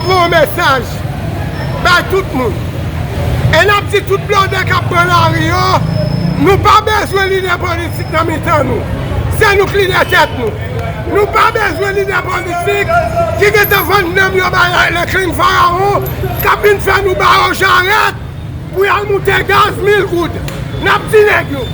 Bon mesaj bay tout moun. E nap di tout blòdè kap pran lari yo, nou pa bezwen lidè politik nan mitan nou. Se nou k lidè tèt nou. Nou pa bezwen lidè politik ki gentan vann nanm yo bay Laiclin Pharaon kap vin fè nou ba yo jarèt pou yal moute gaz mil goud. Nap di nèg yo,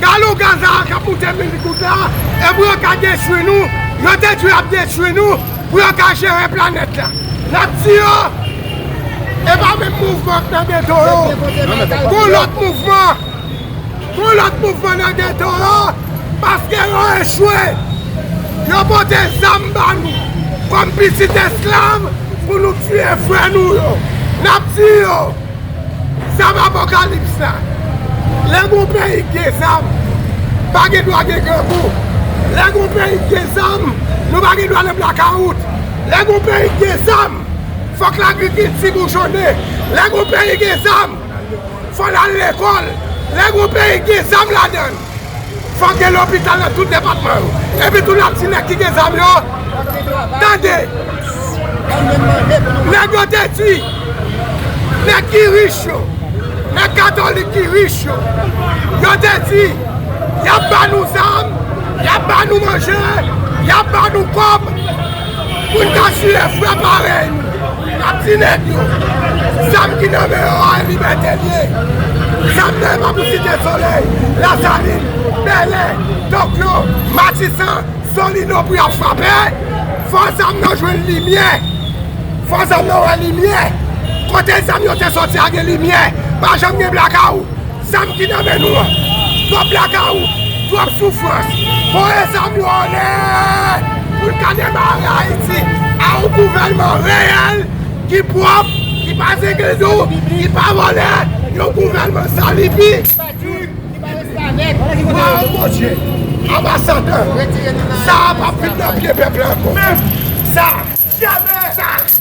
galon gaz a kap moute mil goud la e pou yo ka detwi nou, yo te di yo ap detwi nou. Pou yo ka jere planèt la. Nap di yo, e pa menm mouvman k nan geto yo. Gon lòt mouvman. Gon lòt mouvman nan geto yo. Paske yo echwe. Yo pote zam ba nou. Kòm pitit esklav pou nou tiye frè nou yo. Nap di yo. Zam apokalips la. Lè gon peyi k gen zam, pa gen dwa gen grangou. Lè gon peyi k gen zam, nou pa gen dwa nan blakawout. Lè gon peyi k gen zam, fòk lagrikilti boujonnen. Lè gon peyi gen zam, fò l al lekòl. Lè gon peyi k gen zam ladan l. Fòk gen lopital nan tout depatman yo. Epi tou nap di nèg ki gen zam yo, tande, nèg yo te di, nèg ki rich yo, nèg katolik ki rich yo, yo te di, yap ba nou zam, yap ba nou manje, yap ba nou kòb, pou n ka tiye frè parèy nou. Ak ti nèg yo. Zam ki nan men yo a libète l ye. Zam nan e pa pou Site Solèy, Lasalin, Bèlè, Tokyo, Matisan, Solino pou y ap frape. Fò zam nan jwenn limyè. Fò zam nan wè limyè. Kote zam yo te soti a gen limyè. Pa janm gen blakawout. Zam ki nan men nou an. Twòp lagaou, twòp soufrans. Voye zam yo anlè pou n ka demare Ayiti a yon gouvènman reyèl, ki pwòp, ki pa zengendo, ki pa vòlè, yon gouvènman san libi, ki pa restavèk. Waww Bondye, anbasadè, sa a pap vin nan pye pèp la ankò. Menm sa! Janmè! Sa!